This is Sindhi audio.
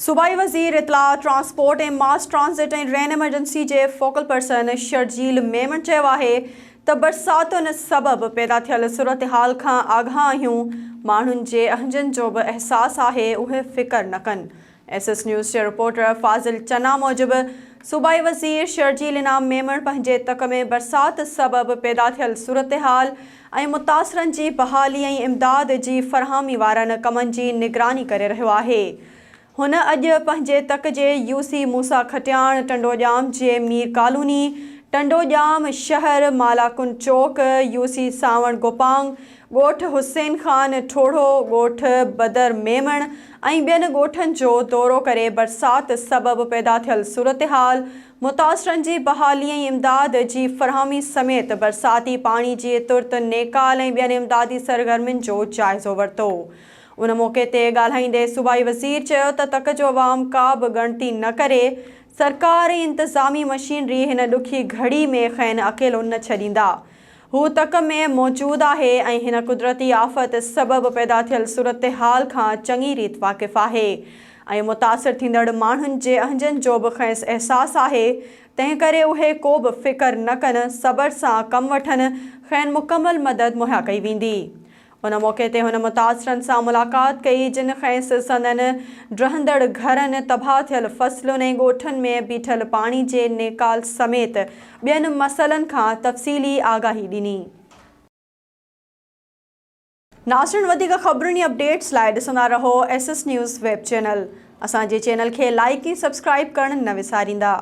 صوبائي وزير اطلاعات، transport ۽ mass transit ۽ rain emergency جي فوڪل پرسن شرجيل ميمڻ چيو آهي ته برساتن سبب پيدا ٿيل صورتحال کان آگاهه آهيون، ماڻهن جي اهنجن جو به احساس آهي اهي فڪر نه ڪن. ايس ايس نيوز جي رپورٽر فاضل چنا موجب صوبائي وزير شرجيل انعام ميمڻ پنهنجي تڪ ۾ برسات سبب پيدا ٿيل صورتحال، ۽ متاثرن جي بحالي ۽ امداد جي فراهمي وارن ڪمن جي نگراني ڪري رهيو آهي. هن اڄ پنهنجي تڪ جي يو سي موسيٰ کٽياڻ، ٽنڊوڄام جي مير ڪالوني، ٽنڊوڄام شهر، مالاڪنڊ چوڪ، يو سي سانوڻ گوپانگ، ڳوٺ حسين خان ٺوڙهو، ڳوٺ بدر ميمڻ ۽ ٻين ڳوٺن جو دورو ڪري برسات سبب پيدا ٿيل صورتحال، متاثرن جي بحالي ۽ امداد جي فراهمي سميت برساتي پاڻي جي ترت نيڪال ۽ ٻين امدادي سرگرمين جو جائزو ورتو. ان موقعي تي ڳالهائيندي صوبائي وزير چيو ته تڪ جو عوام ڪا به ڳڻتي نه ڪري، سرڪار ۽ انتظامي مشينري هن ڏکي گهڙي ۾ کين اڪيلو نه ڇڏيندا، هو تڪ ۾ موجود آهي ۽ هن قدرتي آفت سبب پيدا ٿيل صورتحال کان چڱي ريت واقف آهي ۽ متاثر ٿيندڙ ماڻهن جي اهنجن جو به کيس احساس آهي، تنهنڪري اهي ڪو به فڪر نه ڪن، صبر سان ڪم وٺن، کين مڪمل مدد مهيا ڪئي ويندي. ان موقعي تي هن متاثرن سان ملاقات ڪئي، جن کيس سندن ڊهندڙ گهرن، تباهه ٿيل فصلن ۽ ڳوٺن ۾ بيٺل پاڻي جي نيڪال سميت ٻين مسئلن کان تفصيلي آگاهي ڏني. ناظرين وڌيڪ خبرن ۽ اپڊيٽس لاء ڏسندا رهو S S news web channel. اسان جي چينل کي لائيڪ ۽ سبسڪرائيب ڪرڻ نه وساريندا.